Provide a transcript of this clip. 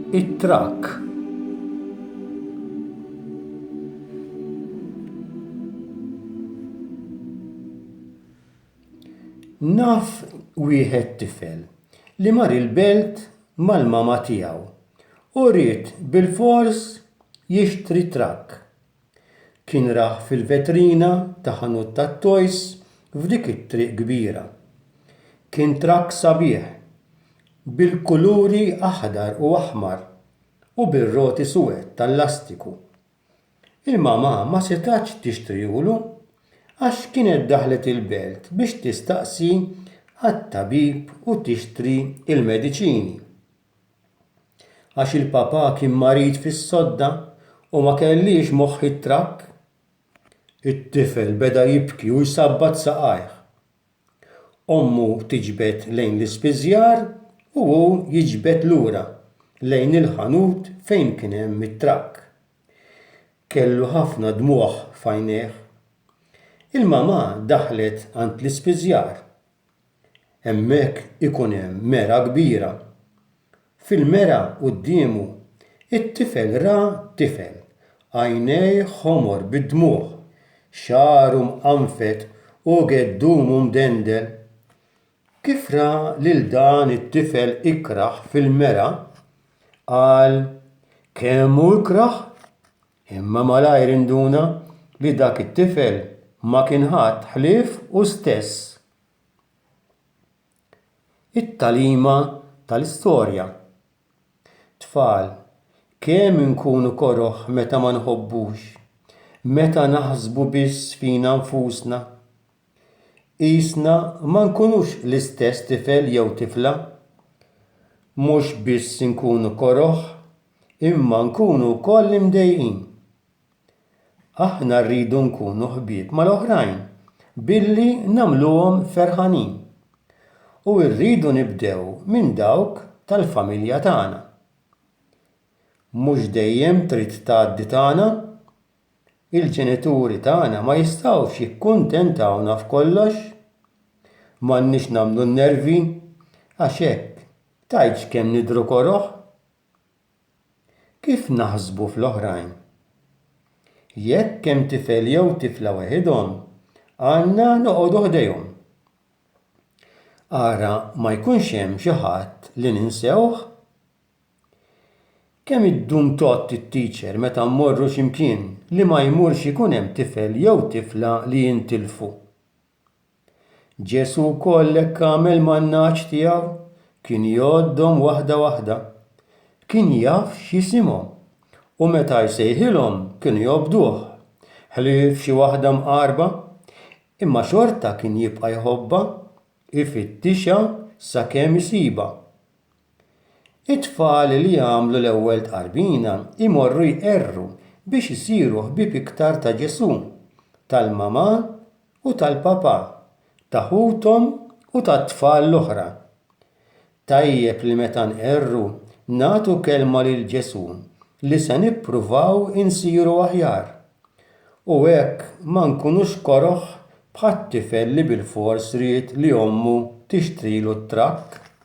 it-trakk. Naf wieħed tifel li mar il-belt mal-mama tiegħu u ried bilfors jixtri trakk. Kien rah fil-vetrina ta' ħanut tat-toys f'dik it-triq kbira. Kien trakk sabiħ, bil-kuluri aħdar u aħmar u bir-roti suwed tal-lastiku. Il-mamà ma setgħetx tixtrihulu għax kienet daħlet il-belt biex tistaqsi għat-tabib u tixtri l-mediċini. għax il-papà kien marid fis-sodda u ma kellhiex moħħ jitrakk. It-tifel beda jibki u jsabbat saqajh. Ommu tiġbed lejn l-ispiżjar u hu jiġbed lura lejn il-ħanut fejn kien hemm it-trakk. Kellu ħafna dmugħ f'għajnejh. Il-mamà daħlet għand l-ispiżjar. Hemmhekk ikun hemm mergħa kbira. Fil-mergħa quddiemu, it-tifel ra tifel, għajnejh ħomor bid-dmugħ, xagħru mqanfed u geddumu mdendel. Kif ra lil dan it-tifel ikrah fil-mergħa, qal kemm hu ikrah, imma malajr induna li dak it-tifel ma kien ħadd ħlief hu stess. It-tagħlima tal-istorja. Tfal, kemm inkunu koroh meta ma nħobbux, meta naħsbu biss fina nfusna. Qisna ma nkunux l-istess tifel jew tifla. Mhux biss inkunu koroh, imma nkunu wkoll imdejqin. Aħna rridu nkunu ħbieb mal-oħrajn billi nagħmluhom ferħanin. U rridu nibdew minn dawk tal-familja tagħna. Mhux dejjem trid tgħaddi tagħna. Il-ġenituri tagħna ma jistgħux jikkuntentawna f'kollox. M'għandniex nagħmlu n-nervi għax hekk tgħidx kemm nidhru koroh. Kif naħsbu fl-oħrajn? Jekk hemm tifel jew tifla weħidhom, għandna noqogħdu ħdejhom. Ara ma jkunx hemm xi ħadd li ninsewh. Kemm iddum tgħodd it-teacher meta mmorru xi mkien li ma jmurx ikun hemm tifel jew tifla li jintilfu? Ġesù wkoll hekk għamel man-nagħaġ tiegħu, kien jgħoddhom waħda waħda. Kien jaf x'jisimhom u meta jsejħilhom kienu jobduh, ħlief xi waħda mqarrba, imma xorta kien jibqa' jħobbha, ifittixha sakemm isibha. It-tfal li jagħmlu l-ewwel tqarbina jmorru jqerru biex isiru ħbieb iktar ta' Ġesù, tal-mamà u tal-papà, ta' ħuthom u tat-tfal l-oħra. Tajjeb li meta nqerru nagħtu kelma lil Ġesù li se nippruvaw insiru aħjar, u hekk ma nkunux koroh bħat-tifel li bilfors ried li ommu tixtrilu t-trakk.